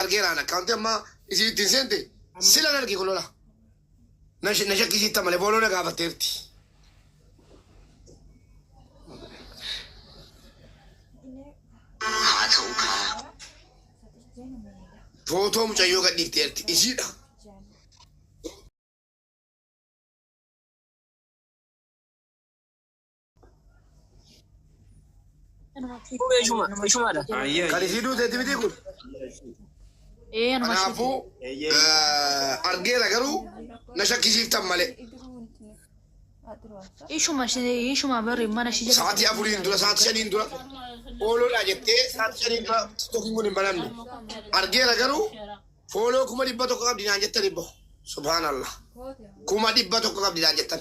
argeeraan akkaawuntii amma isiin ittiin seente silan arge kun lola. Na sh- na shakkisiitta malee booloo na gaafatteerti. Haa ta'u kaa. Footoo mucayyoo gadhiifteerti isiidha. Kan isii duuteetti miti kun. Kanaafuu argeera garuu na shakkisiiftan malee. Ishuma ishuma bari mana ishii jala. Sa'aatii afuriin dura sa'aatii shaniin dura ooloodhaa jettee sa'aatii shaniin dura tiktokiin kun hin banamne. Argeera garuu fooloo kuma dhibba tokko qabdi naan jettan ibbo. Subhaanallah. Kuma dhibba tokko qabdi naan jettan.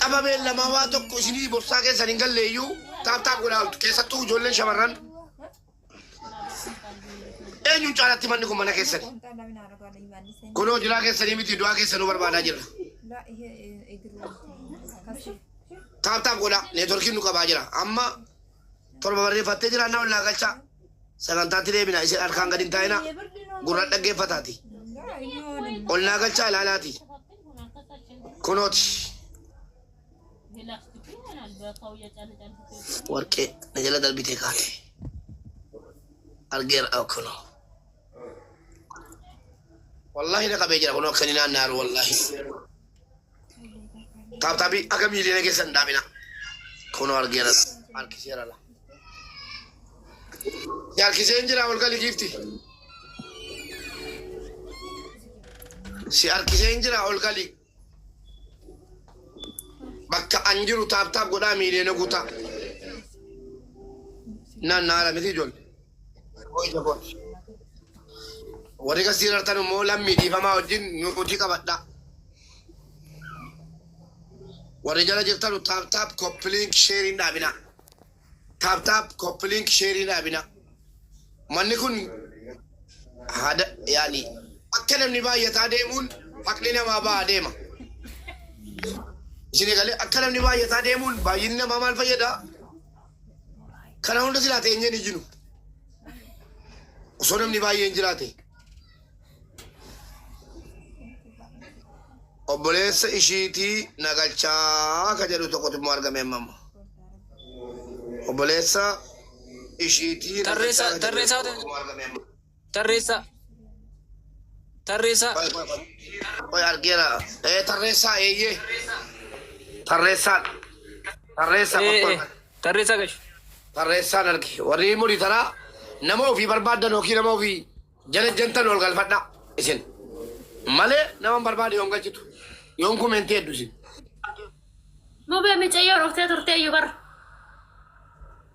qabameen lamaa waa tokko isinii bobsaa keessan hin galleeyyuu taaptaap godhaa oltu keessattuu ijoolleen shamarran eenyuun caalatti manni kun mana keessani kunoo jiraa keessanii miti du'aa keessanuu barbaadaa jirra taaptaap godhaa neetworkiin nu qabaa jira amma 7 barreeffattee jiraan na ollaa galchaa. Sagantaatti deebina isin harkaan gad hin taa'ina. Gurraan dhaggeeffataati. Ollaa galchaa ilaalaati. Kunooti. Warqee na jala darbitee kaate. Argeera ah, kunoo. Wallaahi na qabee jira kunoo akka inni naanna'aru wallaahi. Taaptaabii akka miiliyoona keessan dhaabina. Kunoo argeera harkiseera la. Si harkiseen jira ol gali giifti. Si harkiseen jira ol gali. Bakka an jiru taaptaap godhaa miiliyoona guutaa. Naan naara miti ijoollee. Yeroo ija kooti. Warri qastii irartan immoo lammii dhiifamaa wajjin nuutii qabadhaa. Warri jala jirtanu taap taap koppiliink sheeriin dhaabinaa. Taap taap koppiliink sheeriin dhaabinaa. Manni kun hada yaani akka namni baay'ataa deemuun haqni namaa ba'aa deema. Isin egalee akka namni baay'ataa deemuun baay'inni namaa maal fayyadaa? Kana hunda silaa teenyee hin iyyinu. Osoo namni baay'een jiraate. Obboleessa ishiitii nagalchaa ka jedhu tokkotu immoo argame amma amma. Obboleessa ishiitii Tarreessaa- nagalchaa ka jedhu tarreessaa- tokkotu immoo argame amma. Tarreessaa. Tarreessaa. Qoy, qoy, qoy. Qoy, argeera. Eh, tarreessaa, eeyyee. Tarreessaa. Tarreessaa, Eh, qoy, eh, qoy. Tarreessaa gashi. Tarreessaan arge. Warri murii taraa nama ofii barbaaddan yookiin nama ofii jala jantan ol galfadhaa isin. Malee nama hin barbaade yoon galchitu. Yoon kumentii heddu isin. Mubee micayyoo dhuftee turtee iyyuu bara.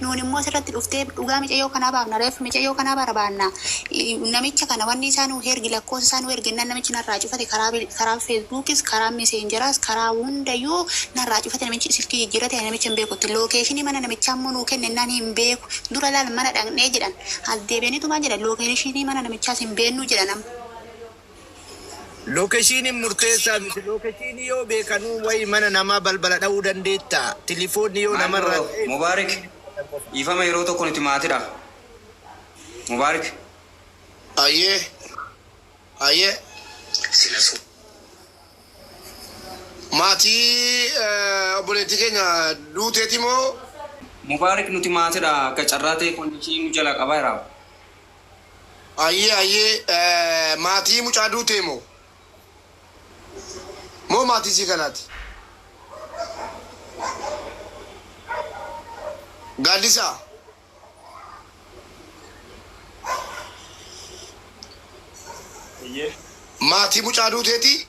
Nuun immoo asirratti dhuftee dhugaa micayyoo kanaa baafna ref micayyoo kanaa barabaanna namicha kana wanni isaa nuu hergi lakkoosa isaa nuu ergennaan namichi narraa cufate karaa karaa feesbuukis karaa meseenjeraas karaa hundayyuu narraa cufate namichi silkii jijjiirrate ani namicha hin beeku itti lookeeshinii mana namichaa immoo nuu kennennaan hin beeku dura laal mana dhaqnee jedhan as deebi'aniitumaan jedhan lookeelishiinii mana namichaas hin beennuu jedhan amma Lokeshiinin murteessaa miti. Lokeshiinii yoo beekanuu wayi mana namaa balbala dhawuu dandeettaa? Tilifoonni yoo Maal namarraa bro ka'ee Mubarik bilbila qabatan qofa. dhiifama yeroo tokko nuti maatidha Mubarik. Hayyee hayyee silasuu maatii obboleettii keenya duuteeti moo? Mubarik nuti maatidha akka carraa ta'e connection nu jalaa qabaa jira. Ayyee ayyee maatii mucaa duutee moo? Moo maatii isii kanaati? Gaaddisaa. Eyyee. Maatii mucaa duuteeti?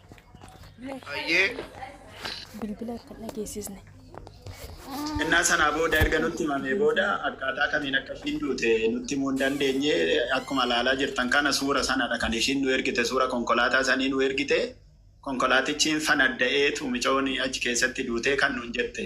Hayyee. Bilbila akka hin dhageessisne. Innaa sanaa booda erga nutti himamee booda akkaataa kamiin akka ishiin duute nutti himuu hin dandeenye. Akkuma ilaalaa jirtan kana suura sanadha kan ishiin nu ergite suura konkolaataa sanii nu ergite. Konkolaatichi hin fanadda'eetu micoon achi keessatti duutee kan nuun jette.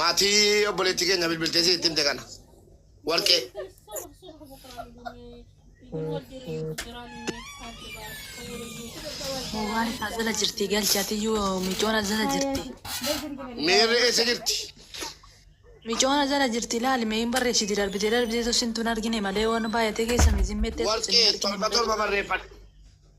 Maatii obboleettii keenya bilbiltee si itti himte kana. Warqee. Waan taasisa jirti galchaatiyyuu micoona jala jirti. Miirri eessa jirti? Micoona jala jirti laali mee hin barreessiti darbitee darbitee tosintuun argine malee waan baay'atee keessa mizimmee Warqee torba torba barreeffadhu.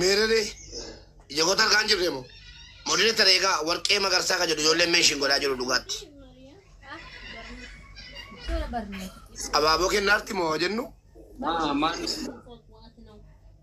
Meerere ija koo tarkaan jirre moo modile tana egaa warqee magarsaa kan jedhu ijoolleen meeshiin godhaa jiru dhugaatti. Abaaboo kennaarti moo jennu Maa maan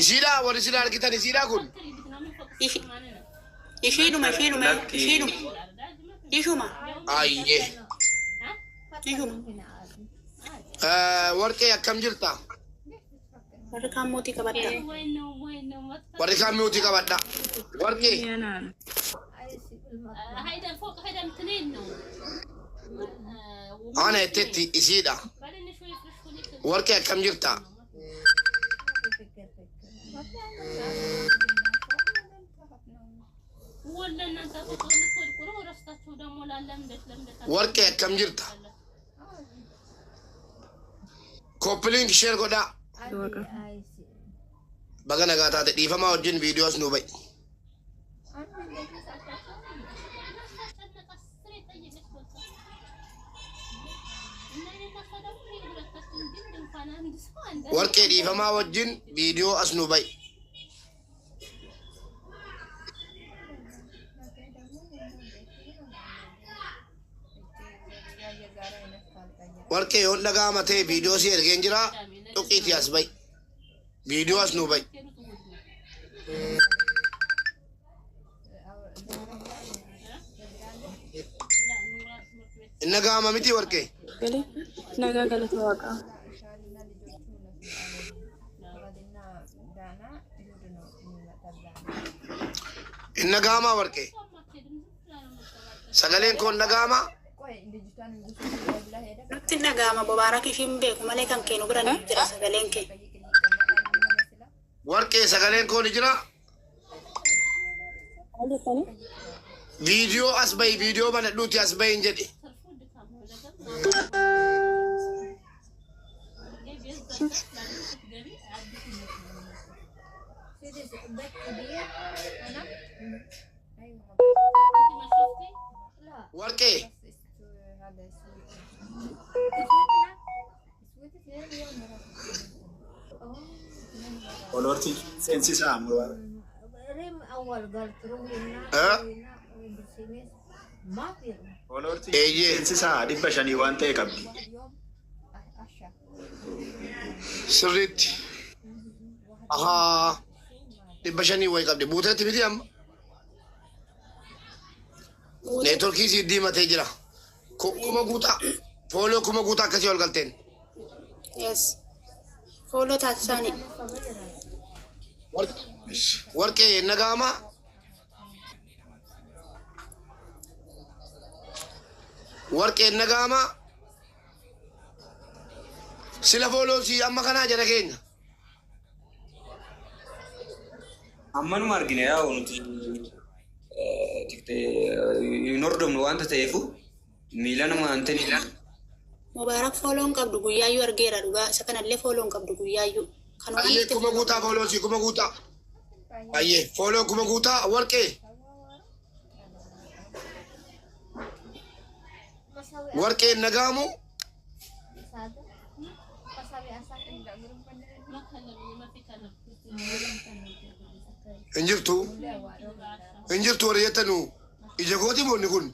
Isiidhaa warri isin argitan isiidhaa kun. Ishi- Ishiidhuma ishiidhuma Lakki. ishiidhuma. Ishuma Ayyee. ishuma. Eh, Warqee akkam jirta? Warri kaan mootii qabadda. Warri kaan mi'uutii qabadha. Warqee. Ana jettetti isiidha. Warqee akkam jirta? Warqee akkam jirta? Koppiliinki sheer godhaa. Baga nagaa taate dhiifamaa wajjin viidiyoos nuu ba'i. warqee dhiifamaa wajjin viidiyoo as nu ba'i. warqee yoon dhagaama ta'e viidiyoo si ergeen jira xuqiitii as ba'i. Viidiyoo as nuu ba'i. Inna gaama miti warqee. Galee nagaa galata waaqaa. Inna gaamaa warqee. Sagaleen koon dhaga'amaa? Nutti hin dhaga'ama Mubaarakiif hin beeku malee kan keenu bira ni jira sagaleen kee. Warqee sagaleen koo ni jira? Viidiyoo as bahi viidiyoo banadhuuti as bahi hin jedhe. Warqee. Olorti seensisaa ammoo. Olorti eeyyee seensisaa dhibba shanii waan ta'e qabdi. Sirriitti. Ahaa. dhibba shanii wayi qabdi buuteetti miti amma neetworkii sii diimatee jira Ku- kuma guutaa fooloo kuma guutaa akkasii ol galteen Yes. Fooloo taasisaani. Warq- warqee nagaama warqee nagaama sila fooloo sii amma kanaa jara keenya Ammanuma argine yaa'u nuti hin hordofnu waanta ta'eefu miilanuma hin ta'in. Mubaarak fooloon qabdu guyyaayyuu argeera dhugaa isa kanallee fooloon qabdu guyyaayyuu. Kan waan Ayyee itti kuma guutaa fooloo si kuma guutaa. Ayyee fooloo kuma guutaa warqee. Warqeen nagaamu hin jirtu hin jirtu warri jettanu ija kooti moonni kun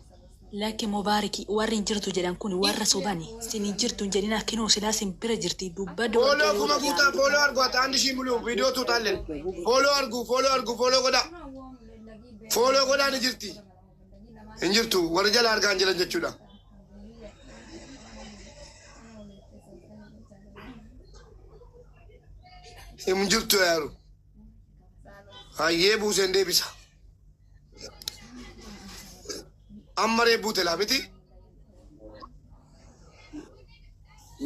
Lakki mubaariki warri hin jirtu jedhan kun warra sobani sin hin jirtu hin jedhina kinoo silaa sin bira jirti dubbadhu fooloo kuma guutaa fooloo argu ati andi shii muluu viidiyoo tuutaalleen fooloo argu fooloo argu fooloo godhaa fooloo godhaa ni jirti hin jirtu warri jala argaan jiran jechuudha. Hin jirtu yaaru hayyee buuseen deebisa amma reebbuu telaa miti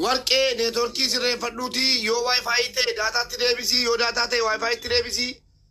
warqee neetworkii sirreeffadhuutii yoo waayifaayi ta'e daataatti deebisii yoo daataa ta'e waayifaayitti deebisii.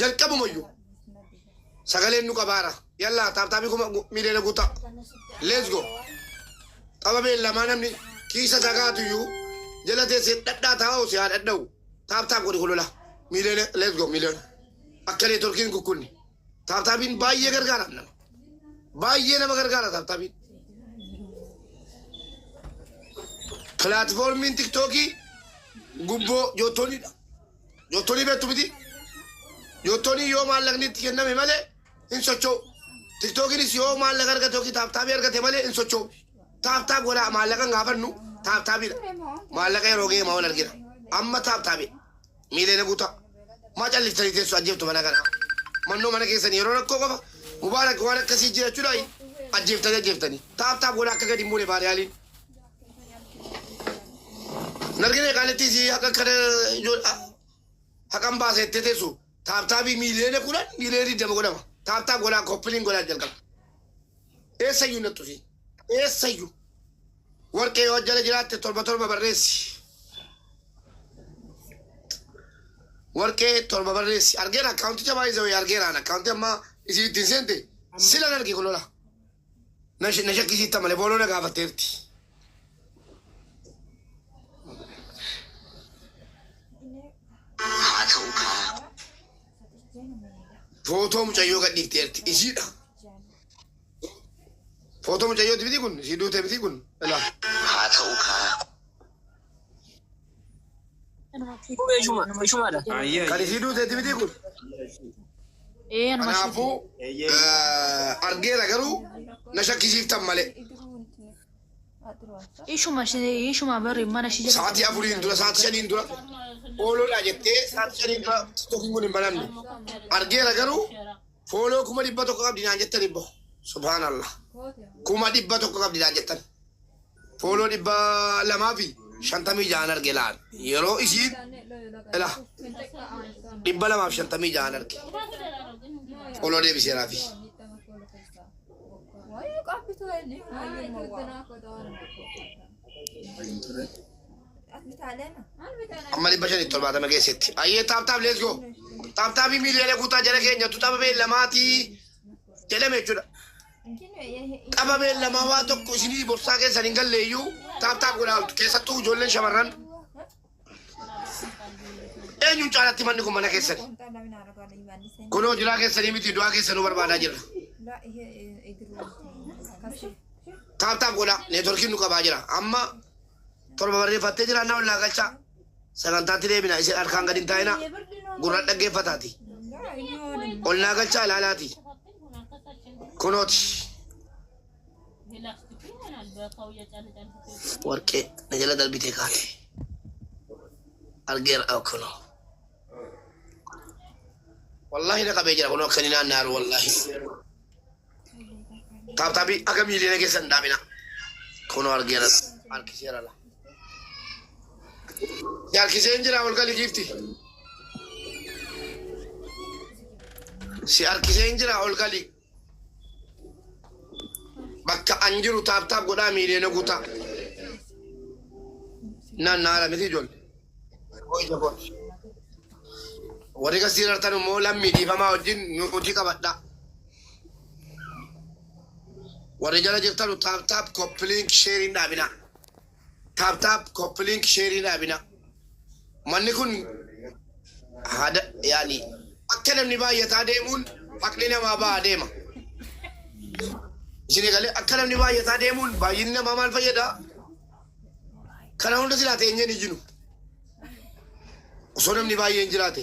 jalqabuma iyyuu sagaleen nu qabaara yallaa taaptaabii kuma miiliyoona guutaa let's go qaba beellamaa namni kiisa isaa kaatu iyyuu jala teessee dhadhaa taa'u si haa dhadha'u taaptaab godhi kolola miiliyoona let's go miiliyoona akka neetworkiin kukkunni taaptaabiin baay'ee gargaara nama baay'ee nama gargaara taaptaabiin pilaatfoormiin tiktookii gubboo joottoonidha. Niyootonii beektu miti. Niyootonii yoo maallaqni itti kenname malee hin socho'u. Tiktookiinis yoo maallaqa argate yookiin taaptaabii argate malee hin socho'u. Taaptaab godhaa maallaqa hin gaafannu taaptaabiidha. Maallaqa yeroo ga'e maawal argina. Amma taaptaabii miileena guutaa. Maa calliftanii teessu ajjeeftu mana kana. Mannoo mana keessan yeroo rakkoo qofa mubaarak waan akkasii jirachuudhaan ajjeeftanii ajjeeftanii. Taaptaab godhaa akka gadi hin buune baariyaaliin. Narginee qaalittii sii haqa kana haqan baasee itti teessu taaptaabii miiliyoona kudhan miiliyoona digdama godhama. Taaptaa godhaa koppiliin godhaa jalqaba. Eessayyuu nattu sii. Eessayyuu. Warqee yoo jala jiraatte torba torba barreessi. Warqee torba barreessi. Argeera akkaawunticha baay'ee zawee argeeraan akkaawunti amma isii ittiin seente sila narge kulola. na shakkisiitta malee booloo na gaafatteerti. Haa ta'u kaa. Footoo mucayyoo gadhiifteerti isiidha. Footoo mucayyooti miti kun isii duutee miti kun. Haa ta'u kaa. Kan isii duuteeti miti kun. Kanaafuu argeera garuu na shakkisiiftan malee. Ishuma ishuma bari mana ishii jala. Sa'aatii afuriin dura sa'aatii shaniin dura ooloodhaa jettee sa'aatii shaniin dura tokkoon kun hin banamne. Argeera garuu Follow kuma dhibba tokko qabdi naan jettan ibbo. Subhanallah. Kuma dhibba tokko qabdi naan jettan. Follow dhibba lamaa fi shantamii jahan arge laan. Yeroo isiin ila dhibba lamaaf shantamii jahan arge. Follow deebiseeraa fi. Wayii qabbitu inni. Wayii mawwaa. amma dhibba shanii torbaatama geessetti. Ayyee taap taap let's go. Taap taapii miiliyoona guutaa jala keenya tu tapha beellamaatii jedhame jechuudha. Tapha beellamaa waa tokko isinii borsaa keessan hin galleeyyuu taap taap godhaa oltu keessattuu ijoolleen shamarran. Eenyuun caalatti manni kun mana keessani? Kunoo jiraa keessanii miti du'aa keessa nu barbaadaa jirra. Taap taap godhaa neetworkiin nu qabaa jira. Amma torba barreeffattee jira na ollaa galchaa. Sagantaatti deebina isin harkaan gadi hin taa'ina gurraan dhaggeeffataati. Ollaa galchaa ilaalaati. Kunooti. warqee na jala darbitee kaate argeera akkunoo wallaahi na qabee jira kunoo akkani naan naaru wallaahi taaptaabii akka miiliyoona keessa hin dhaabina kunoo argeera harkiseera la si harkiseen jira ol gali giifti si harkiseen jira ol gali bakka an jiru taaptaap godhaa miiliyoona guutaa. Naannaara miti ijoollee. Hojii koo. Warri kan siirartan immoo lammii dhiifamaa wajjin nu hojii qabadhaa. Warri jala jirtanu taaptaap koppiliink sheeriin dhaabinaa. Tap tap copy link sheerii dhaabina. Manni kun hada yaani akka namni baay'ataa deemuun haqni namaa ba'a deema. Isin egalee akka namni baay'ataa deemuun baay'inni namaa maal fayyada? Kana hunda silaa teenyeen iyyinu. Osoo namni baay'een jiraate.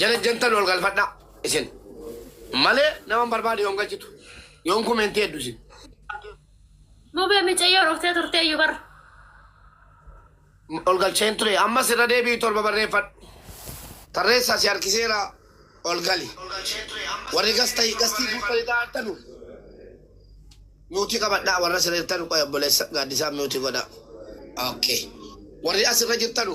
Jana jantal wal galfadha isin male naman barbade yon galchitu yon kumenti eddu isin. Mubee micayyoo dhuftee turtee iyyuu bar. Ol galcheen ture amma sirra deebi'i torba barreeffadhu. Tarreessaa si harkiseera ol gali. Warri gastai gastii guuttanii taa'attanu miutii qabadhaa warra sirreertanu qoy obboleessa gaaddisaa miutii godhaa. Okay. Warri asirra jirtanu.